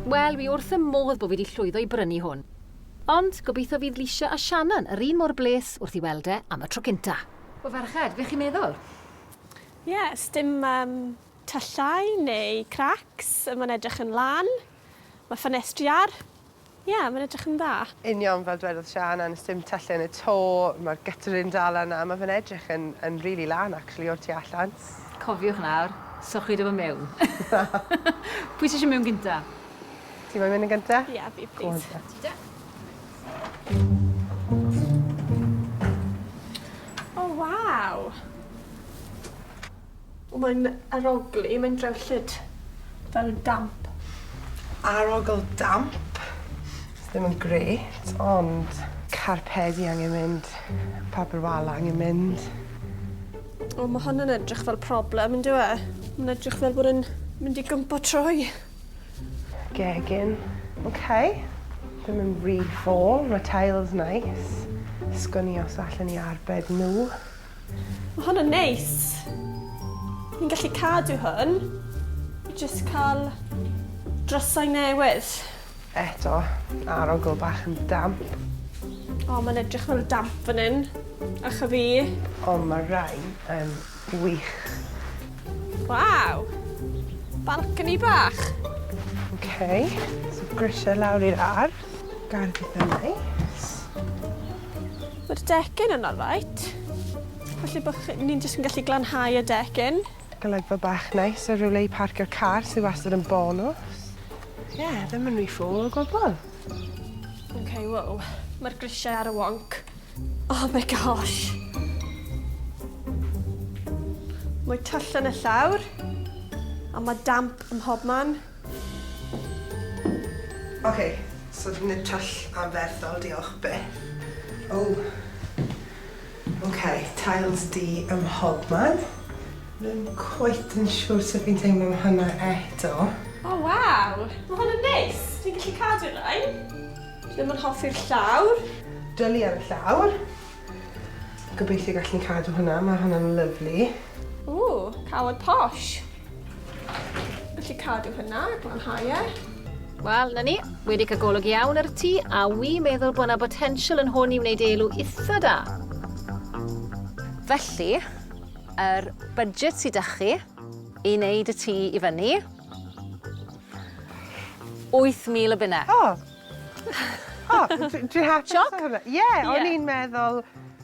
Wel, wi wrth y modd bo fi 'di llwyddo i brynu hwn. Ond, gobeithio fydd Leisha a Shannon yr un mor bles wrth 'i weld e am y tro cynta. O ferched, be chi'n meddwl? Ie, sdim yym tyllau neu cracks, ma'n edrych yn lân, ma' ffenestri ar, ie, ma'n edrych yn dda. Union fel dwedodd Shannon, sdim tyllau yn y to, ma'r guttering dal yna, ma fe'n edrych yn yn rili lân actually o'r tu allan. Cofiwch nawr, sochwyd o fo mewn. Pwy sy isio mewn gynta? Ti moyn mynd yn gynta? Ie, yeah, fi, please. Go on, ta. Ti da? Waw! O, mae'n arogli, mae'n drewllyd. Fel damp. Arogl damp. Ddim yn grêt, ond... Carpedi angen mynd, papur wal angen mynd. O, mae hwn yn edrych fel problem, yn dyw e? Mae'n edrych fel bod yn mynd i gympo trwy. Gegin. OK. Ddim yn rhy ffôl, mae tiles nice. Sgwn i os allan ni arbed nhw. Mae hwn yn neis. Ni'n gallu cadw hwn. Just cael drysau newydd. Eto, arogl bach yn damp. O, mae'n edrych mor damp fan hyn. Ych a fi. O, mae rai yn wych. Waw! Balcony bach. OK, so grisiau lawr i'r ar. Gardd eitha neis. Mae'r decyn yn alright. Felly bod ni'n jyst yn gallu glanhau y decyn. Golygfa bach neis a rywle i parcio'r car sydd wastad yn bonws. Ie, yeah, ddim yn rhy ffôl o gwbl. OK, wow. Mae'r grisiau ar y wonc. Oh my gosh. Mae twll yn y llawr. A mae damp ym mhob man. OK, so nid twll anferthol, diolch byth. Oh. Ok, tiles du ym mhob man. Ddim cweit yn siwr sut fi'n teimlo am hwnna eto. O waw! Ma' hwn yn neis! Dwi'n gallu cadw rhain. Dwi ddim yn hoffi'r llawr. Dwli ar y llawr. Gobeithio gallwn cadw hwnna, ma' hwnna'n lyfli. Ww, cawod posh! Felly cadw hynna, glanhau e. Wel, na ni, wedi cael golwg iawn ar y tŷ, a wi meddwl bod yna botensial yn hwn i wneud elw eitha da. Felly, yr budget sydd â chi i wneud y tŷ i fyny, 8,000 o bunne. O! O, dwi hapus. Sioc? Ie, o'n i'n meddwl